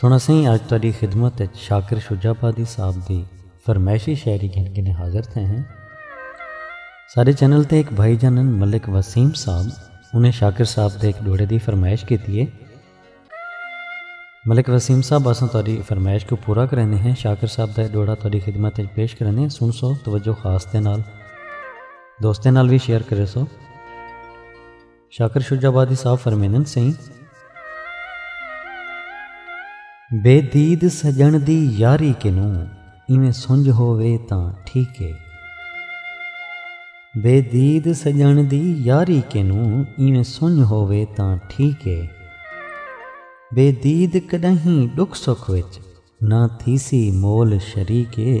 سݨاں سئیں آج تہاݙی خدمت وچ شاکر شجاع آبادی صاحب دی فرمائشی شاعری گھن گھن حاضر تھئے ہیں۔ ساݙے چینل تے ہک بھائی جان ہن ملک وسیم صاحب انہیں شاکر صاحب دے ہک ݙوہڑے دی فرمائش کیتی ہے۔ ملک وسیم صاحب اساں تہاݙی فرمائش کوں پورا کریندے ہیں شاکر صاحب دا ݙوہڑا تہاݙی خدمت وچ پیش کریندے ہیں سݨ سو توجہ خاص دے نال دوستاں نال وی شیئر کرے سو۔ شاکر شجاع آبادی صاحب فرمیندن سئیں بے دید سڄݨ دی یاری کنوں ایویں سنڄ ہووے تاں ٹھیک اے بے دید سڄݨ دی یاری کنوں ایویں سنڄ ہووے تاں ٹھیک اے بے دید کݙاہیں ݙکھ سکھ وچ نہ تھیسی مول شریک اے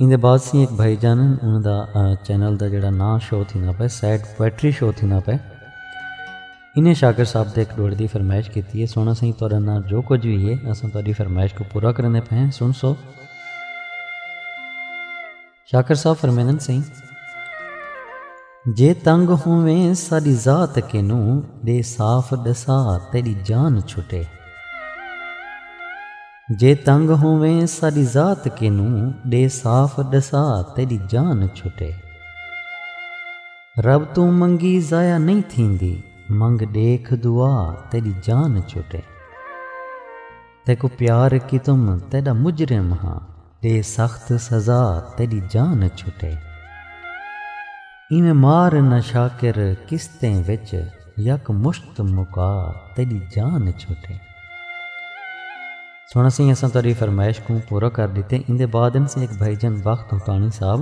ایندے بعد سی ایک بھائی جان انہاں دا چینل دا جڑا ناں شو تھیندا پے سیڈ پوئٹری شو تھیندا پے انہیں شاکر صاحب دے ایک ڈوڑ دی فرمائش کیتی ہے سونا سائیں تہاڈا ناں جو کچھ بھی ہے اساں تہاڈی فرمائش کو پورا کرنے پے ہیں سن سو شاکر صاحب فرمیندن سائیں جے تنگ ہوویں ساڈی ذات کینوں دے صاف ڈسا تیری جان چھٹے جے تنگ ہوویں ساݙی ذات کینوں ݙے صاف ݙسا تیݙی جان چھٹے رب توں منگی ضائع نئیں تھیندی منگ ݙیکھ دعا تیݙی جان چھٹے تیکوں پیار کیتم تیݙا مجرم ہاں تے سخت سزا تیݙی جان چھٹے۔ اینویں مار نہ شاکر قسطیں وچ یک مشت مکا تیݙی جان چھٹے۔ سݨ سئیں اساں تہاݙی فرمائش کوں پورا کر ݙتے۔ ایندے بعد ہن سئیں ہک بھائی جان بخت ہوتاݨی صاحب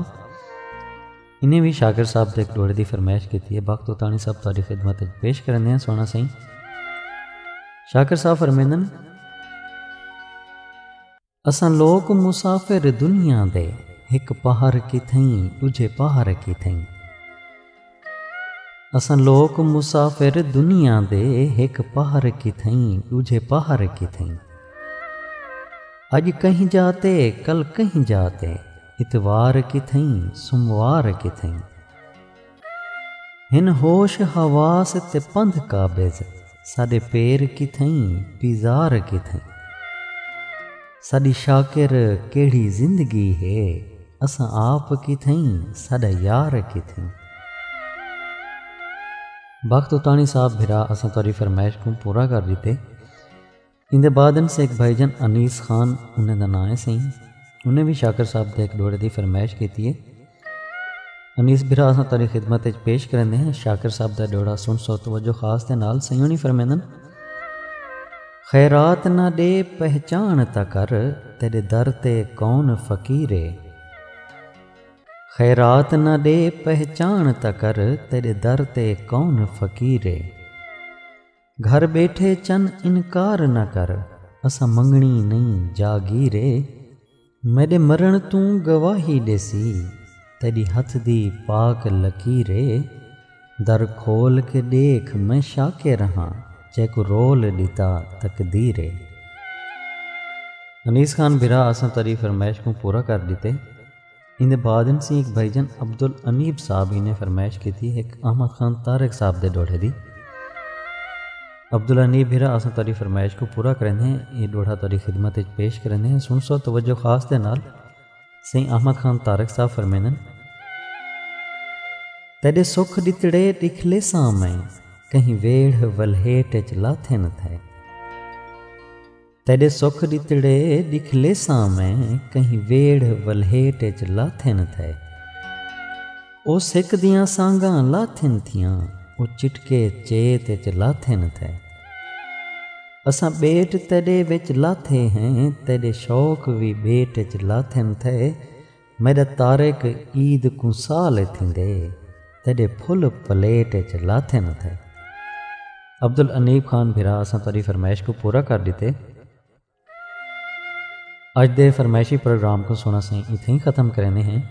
انہیں وی شاکر صاحب تے ہک ݙوہڑے دی فرمائش کیتی ہے۔ بخت ہوتاݨی صاحب تہاݙی خدمت وچ پیش کرݨ دے ہن سݨ سئیں۔ شاکر صاحب فرمیندن۔ اساں لوک مسافر دنیا دے ہک پہر کتھئیں ڈوجھے پہر کتھئیں۔ اساں لوک مسافر دنیا دے ہک پہر کتھئیں ڈوجھے پہر کتھئیں۔ اج کہیں جا تے کل کہیں جا تے اتوار کتھئیں سوموار کتھئیں۔ ہن ہوش حواس تے پندھ قابض ساݙے پیر کتھئیں پیزار کتھئیں ساݙی شاکر کیڑھی زندگی ہے اساں آپ کتھئیں ساݙا یار کتھئیں بخت اتاݨی صاحب بھرا اساں تہاݙی فرمائش کوں پورا کر ݙتے۔ ایندے بعد انس ہک بھائی جان انیس خان انہیں دا ناں ہے سئیں انہیں وی شاکر صاحب دے ہک ڈوہڑے دی فرمائش کیتی ہے۔ انیس بھرا اساں تہاڈی خدمت اچ پیش کریندے ہیں شاکر صاحب دا ڈوہڑا سن سو توجہ خاص دے نال سئیں ہونی فرمیندن۔ خیرات نہ ڈے پہچان تاں کر تیڈے در تے کون فقیر ہے۔ خیرات نہ ڈے پہچان تاں کر تیڈے در تے کون فقیر ہے۔ گھر ٻیٹھے چن انکار نہ کر اساں منگݨی نئیں جاگیر اے میݙے مرݨ توں گواہی ݙیسی تیݙی ہتھ دی پاک لکیر اے در کھول کے ݙیکھ میں شاکر ہاں جیکوں رول ݙتا تقدیر اے۔ انیس خان بھرا اساں تیݙی فرمائش کوں پورا کر ݙتے۔ ایندے بعد ایم سی ایک بھائی جان عبدالانیب صاحب ہی نے فرمائش کیتی ہک احمد خان طارق صاحب دے ڈوہڑے دی۔ عبدالانیب بھرا اساں تہاڈی فرمائش کوں پورا کریندے ہیں ایہ ڈوہڑا تہاڈی خدمت اچ پیش کریندے ہیں سنسو توجہ خاص دے نال سئیں احمد خان طارق صاحب فرمیندن۔ تیڈے سکھ ڈتڑے ڈکھ لیساں میں کہیں ویڑھ ولہیٹ اچ لاتھے نہ تھے۔ تیݙے سکھ ݙتڑے ݙکھ لیساں میں کہیں ویڑھ ولھیٹ اچ لاتھن تھئے او سک دیاں سانگاں لاتھن تھیاں او چٹکے چیت اچ لاتھن تھئے اساں ٻیٹ تیݙے وچ لاتھے ہیں تیݙے شوق وی ٻیٹ اچ لاتھن تھئے۔ میݙا طارق عید کوں سال ء تھیندے تیݙے پھل پلیٹ اچ لاتھن اتھے۔ عبدالانیب خان بھرا اساں تہاݙی فرمائش کوں پورا کر ݙتے۔ اڄ دے فرمائشی پروگرام کوں سݨ اساں اتھے ہی ختم کریندے ہیں۔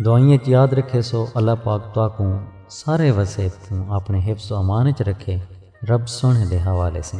دعائیں اچ یاد رکھیسو اللہ پاک تہاکوں سارے وسیب توں اپݨے حفظ و امان اچ رکھے رب سوہݨے دے حوالے سیں۔